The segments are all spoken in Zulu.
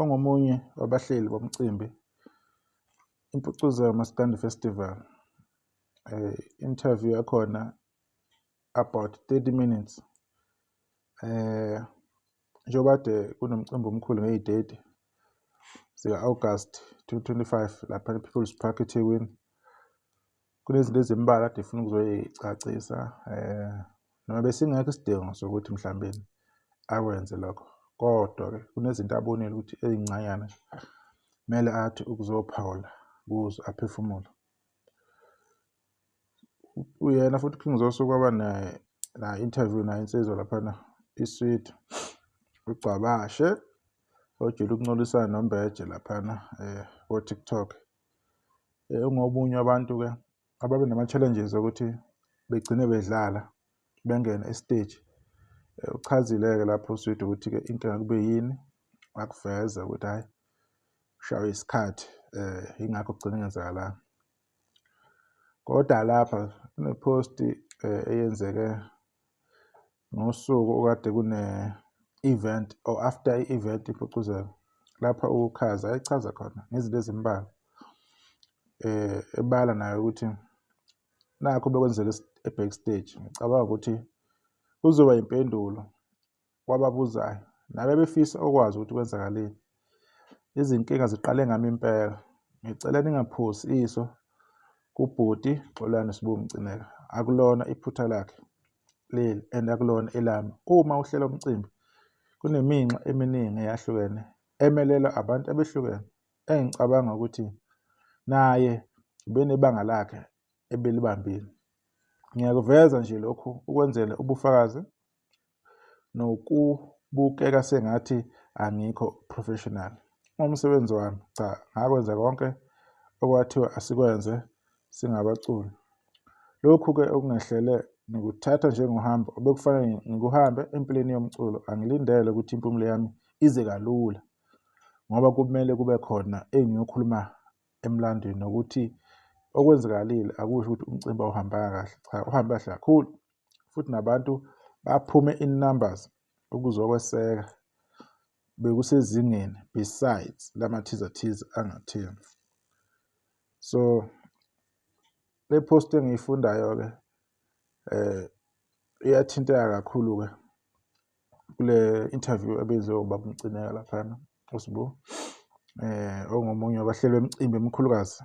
Ongomunye wabahleli bomcimbi impucuza yamaskandi festival eh, interview yakhona about 30 minutes eh njengoba kade kunomcimbi omkhulu ngey'date zika-august 2025 lapha e-people's park ethekwini Kunezinto ezimbalwa kade funa ukuzoyicacisa um noma besingekho isidingo sokuthi mhlawumbe akwenze lokho kodwa-ke kunezinto abonile ukuthi ezincanyana kumele athi ukuzophawula kuzo aphefumule uyena futhi king zoso kwaba na-interview nayo insizwa laphana isweet ugcwabashe ojule ukuncolisana nombeje laphana um kotiktok eh, ungobunye abantu-ke ababe nama-challenges okuthi begcine bedlala bengene esiteji eh, uchazile-ke lapho uswidi ukuthi-ke inkinga kube yini wakuveza ukuthi hhayi ushawe isikhathi um yingakho kugcine ngenzakalanga kodwa lapha kunephosti um eyenzeke Ngosuku okade kune-event or after i-event impucuzeko lapha ukukhaza ayichaza khona ngezinto ezimbalwa eh ebala nayo ukuthi nakho bekwenzeka e-backstage ngicabanga ukuthi kuzoba impendulo kwababuzayo nabe befisa okwazi ukuthi kwenzakaleni Izinkinga ziqale ngami impela. Ngicela ningaphusi iso kubhuti Xolani Sbu Mcineka. Akulona iphutha lakhe leli and akulona elami. Uma uhlela umcimbi kuneminxa eminingi eyahlukene emelelwa abantu abehlukene engicabanga ukuthi naye ubenebanga lakhe ebelibambile. Ngiyakuveza nje lokhu ukwenzela ubufakazi nokubukeka sengathi angikho professional umsebenzi wami cha ngakwenza konke okwathiwa asikwenze singabaculi lokhu-ke okungehlele ngikuthatha njengohambo obekufanele ngikuhambe empilweni yomculo angilindele ukuthi impumulo yami ize kalula ngoba kumele kube khona engiyokhuluma emlandweni nokuthi okwenzakalile akusho ukuthi umcimbi awuhambanga kahle cha uhambe kahle kakhulu futhi nabantu baphume in numbers ukuzokweseka bekusezingeni besides lamathiza-thiza angatheni so le post engiyifundayo-ke eh iyathinteka kakhulu-ke kule interview ebenziwe ubaba umcineka laphana usibu eh ongomunye wabahleli bemicimbi emikhulukazi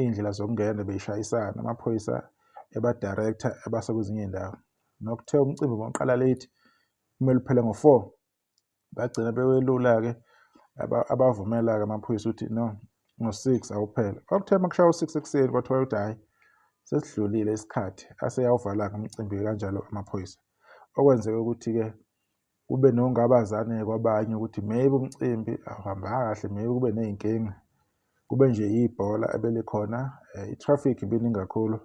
iy'ndlela zokungena beyishayisana amaphoyisa ebadirector ebasa kwezinye iy'ndawo nokuthe umcimbi bonqala late kumele uphele ngo-four bagcina bewelula-ke abavumela-ke amaphoyisa ukuthi no ngo-six awuphele kwakuthe uma kushaya u-six ekuseni kwathiwa ukuthi hhayi sesidlulile isikhathi aseyawuvala-ke umcimbi kanjalo amaphoyisa okwenzeka ukuthi-ke kube nongabazane kwabanye ukuthi maybe umcimbi awuhambanga kahle maybe kube ney'nkinga kube nje yibhola ebelikhona um i-traffic ibiningi kakhulu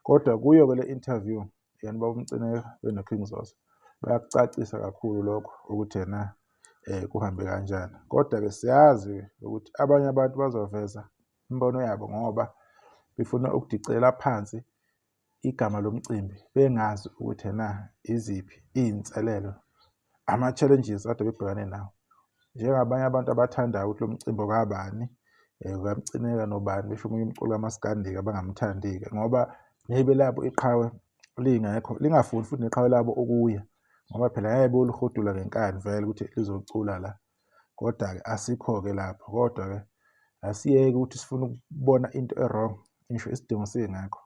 kodwa kuyo-ke le interview yena ubaba umcineka benoking zoso bayakucacisa kakhulu lokho ukuthi yena um kuhambe kanjani kodwa-ke siyazi ukuthi abanye abantu bazoveza imibono yabo ngoba befuna ukudicela phansi igama lomcimbi bengazi ukuthi ena iziphi iy'nselelo ama-challenges ade bebhekane nawo njengabanye abantu abathandayo ukuthi lo mcimbi okabani um eh, kamcineka nobani besho omunye umculo kamaskandika abangamthandi-ke ngoba nebe labo iqhawe lingekho lingafuni futhi neqhawe labo ukuya ngoba phela ngeke boluhudula ngenkani vele ukuthi lizocula la Kodwa-ke asikho-ke lapho, kodwa-ke asiyeke ukuthi sifuna ukubona into e-wrong, ngisho isidingo singekho.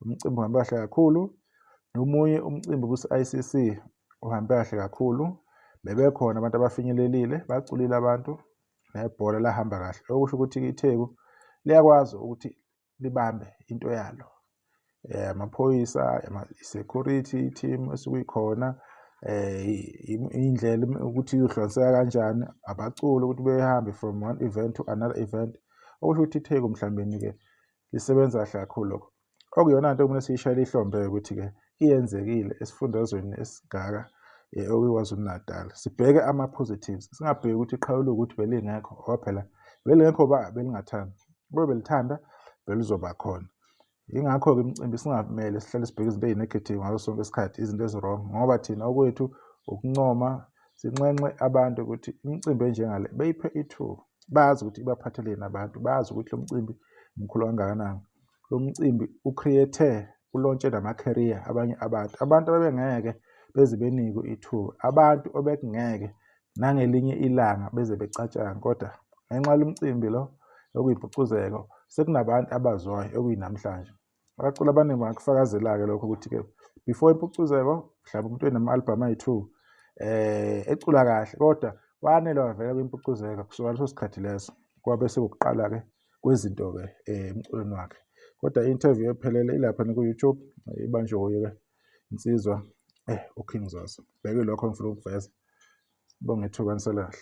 Umcimbi uhambe kahle kakhulu, nomunye umcimbi kuse-ICC uhambe kahle kakhulu. Bebekhona abantu abafinyelelile, baculile abantu, nebhola lahamba kahle. Okusho ukuthi iTheku liyakwazi ukuthi libambe into yalo eh, amaphoyisa security team esikuyikhona eh indlela ukuthi izohlonseka kanjani abaculi ukuthi behambe from one event to another event okusho ukuthi itheku mhlawumbe ke lisebenza kahle kakhulu lokho okuyona nto kumele siyishayele ihlombe ukuthi ke iyenzekile esifundazweni esingaka eh, okwiKwaZulu-Natal. Sibheke ama-positives, singabheki ukuthi iqhawe liwukuthi belingekho ngoba phela belingekho ba belingathanda. Kube belithanda belizoba khona. Yingakho-ke imicimbi singamele sihlale sibheke izinto eyi-negative ngaso sonke isikhathi, izinto ezi-wrong ngoba thina okwethu ukuncoma, sinxenxe abantu ukuthi imicimbi enjengale beyiphe ithuba. Bazi ukuthi ibaphatheleni abantu, bazi ukuthi lo mcimbi mkhulu kangakanani. lo mcimbi ucreate ulontshe nama-career abanye abantu abantu abebengeke beze benikwe ithuba abantu obekungeke nangelinye ilanga beze becatshanga kodwa ngenxa yalo mcimbi lo okuyimpucuzeko sekunabantu abazwayo okuyinamhlanje abaculi abaningi bangakufakazela-ke lokho ukuthi-ke before impucuzeko mhlawumbe umuntu enama-albhamu ayi-two um eh, ecula kahle kodwa wanele wavela kwimpucuzeko kusuka leso sikhathi leso kwabe sekuqala-ke kwezinto-ke eh, emculweni wakhe kodwa i-interview ephelele ilapha niku-youtube ibanjwe wuye-ke insizwa eh uking zoso bheke lokho ngifuna ukuveza sibonge ithuba nisalahle